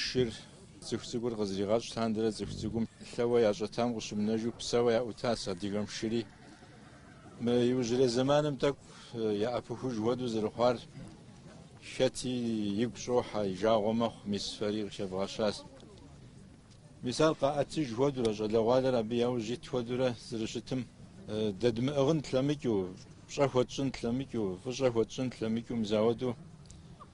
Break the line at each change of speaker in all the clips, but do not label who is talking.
Шыр цӏыху цӏыкӏур къызригъэщӏ лъандэрэ цӏыху цӏыкӏум лъэуэ ящӏэтам къыщымынэжу псэуэ яӏутащ адыгэм шыри. Мы иужьрей зэманым тӏэкӏу яӏэпыхуж хуэду зэрыхъуар хэти игу щӏохьэ, и жагъуэ мэхъу, мис фэри къыхэвгъэщащ. Мис ар къаӏэтыж хуэдурэ, щӏалэгъуалэр абы яужь ит хуэдурэ зэрыщытым, дэдмыӏыгъын тлъэмыкӏыу, пщӏэ хуэтщӏын тлъэмыкӏыу, фӏыщӏэ хуэтщӏын тлъэмыкӏыу мис ауэду,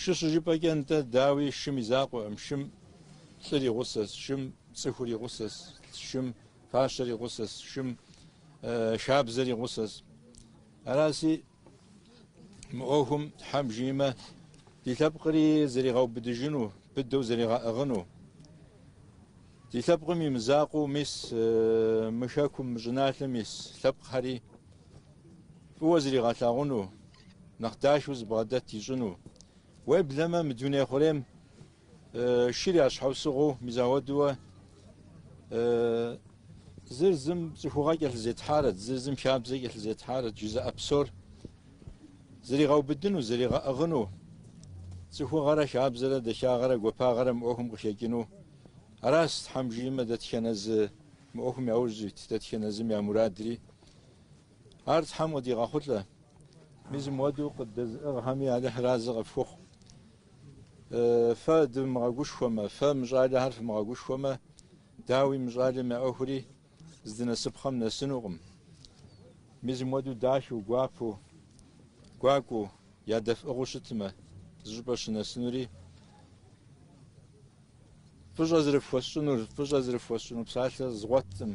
Шы щыжыпӏэкӏэ нтӏэ, дауи, шым и закъуэкъым, шым лӏыр и гъусэщ, шым цӏыхур и гъусэщ, шым фащэр и гъусэщ, шым хабзэр и гъусэщ. Араси, мы ӏуэхум Тхьэм жиӏэмэ, ди лъэпкъри зэригъэубыдыжыну, быдэу зэригъэӏыгъыну, ди лъэпкъым и мызакъуэу, мис мы Хэкум, мы щӏыналъэм ис лъэпкъхэри фӏыуэ зригъэлъагъуну, Нэхъ дахэу зыбгъэдэт ищӏыну. Уеблэмэ, мы дуней хъурейм шыр я щхьэусыгъуэу мис ауэдуэ зыр зым цӏыхугъэ кӏэлъызетхьарэт, зыр зым хабзэ кӏэлъызетхьарэт жызыӏэ псор зригъэубыдыну, зригъэӏыгъыну, цӏыхугъэрэ хабзэрэ дахагъэрэ гуапагъэрэ мы ӏуэхум къыхэкӏыну. Аращ, Тхьэм жиӏэмэ, дэтхэнэ зы мы ӏуэхум яужь ит, дэтхэнэ зым я мурадри. Ар Тхьэм къыдигъэхъулӏэ. Мис мыуэду къыддэзыӏыгъхэми Алыхьыр арэзы къыфхухъу. Фэ дывмыгъэгушхуэмэ, фэ мы щӏалэхэр фымыгъэгушхуэмэ, дауи мы щӏалэм я ӏуэхури здынэсыпхъэм нэсынукъым. Мис мыуэду дахэу, гуапэу, гуакӏуэу, ядэфӏыгъыу щытмэ, зыщӏыпӏэ щынэсынури, фӏыщӏэ зрыфхуэсщӏынур, фӏыщӏэ зрыфхуэсщӏыну псалъэ згъуэтӏым.